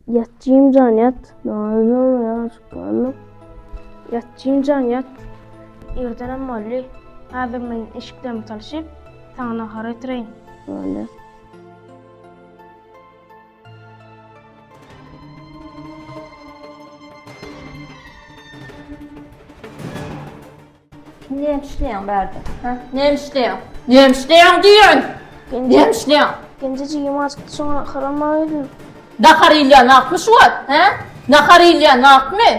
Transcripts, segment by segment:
Ýat jimjan ýat. Nazlym ýaşyp galdyk. Ýat jimjan ýat. Irdenem boldy. Häzir men eşiklerimi salşyp, saňa nahar getireýin. Boldy. Näme işleýäň bärde? Ha? Näme işleýäň? Näme işleýäň diýen? Näme işleýäň? Genje jigim açykdy şoňa harama geldim. Nahar iýilýän wagtmy şu wagt? Hä? Nahar iýilýän wagtmy?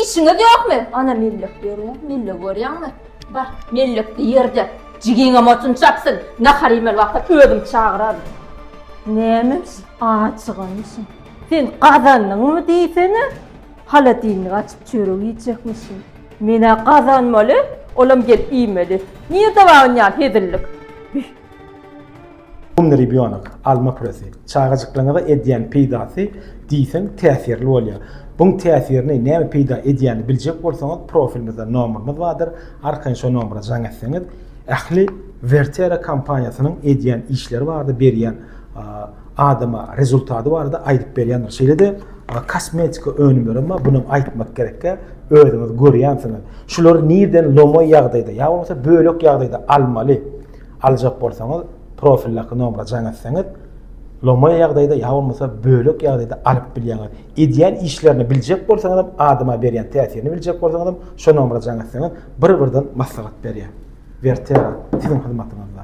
Işiňiz ýokmy? Ana mellek ýörýär, mellegi görýäňmi? Bar, mellekli ýerde jigiňem otun çapsyn, nahar iýmeli wagtam özüm çagyraryn. Nämemş, acyganmyşyn. Sen gazandyňmy diýsene? Holodilnik açyp çörek iýjekmişin. Men-ä gazanmaly, olam gelip iýmeli. Nirde bar ynjan hezillik? Bih! Umny rebýonok, alma püresi. Çagajyklaryňyza edýän peýdasy diýseň täsirli bolýar. Buň täsirini, näme peýda edýänini biljek bolsaňyz, profilimizde nomerimiz bardyr, arkaýyn şo nomera jaň etseňiz, ähli Vertera kompaniýasynyň edýän işleri bardyr, berýän adama rezultaty barada aýdyp berýändir. Şeýle-de kosmetika önümleri hem bunu aýtmak gerekkä, özüňiz görýänsiňiz. Şulary nirden lomoý ýagdaýda, ýa bolmasa bölek ýagdaýda almaly? Aljak bolsaňyz, profildaky nomera jaň etseňiz, lomoý ýagdaýda ýa bolmasa bölek ýagdaýda alyp bilýäňiz. Edýän işlerini biljek bolsaňyz hem, adama berýän täsirini biljek bolsaňyz hem, şo nomera jaň etseňiz, bir-birden maslahat berýär. Vertera, siziň hyzmatyňyzda.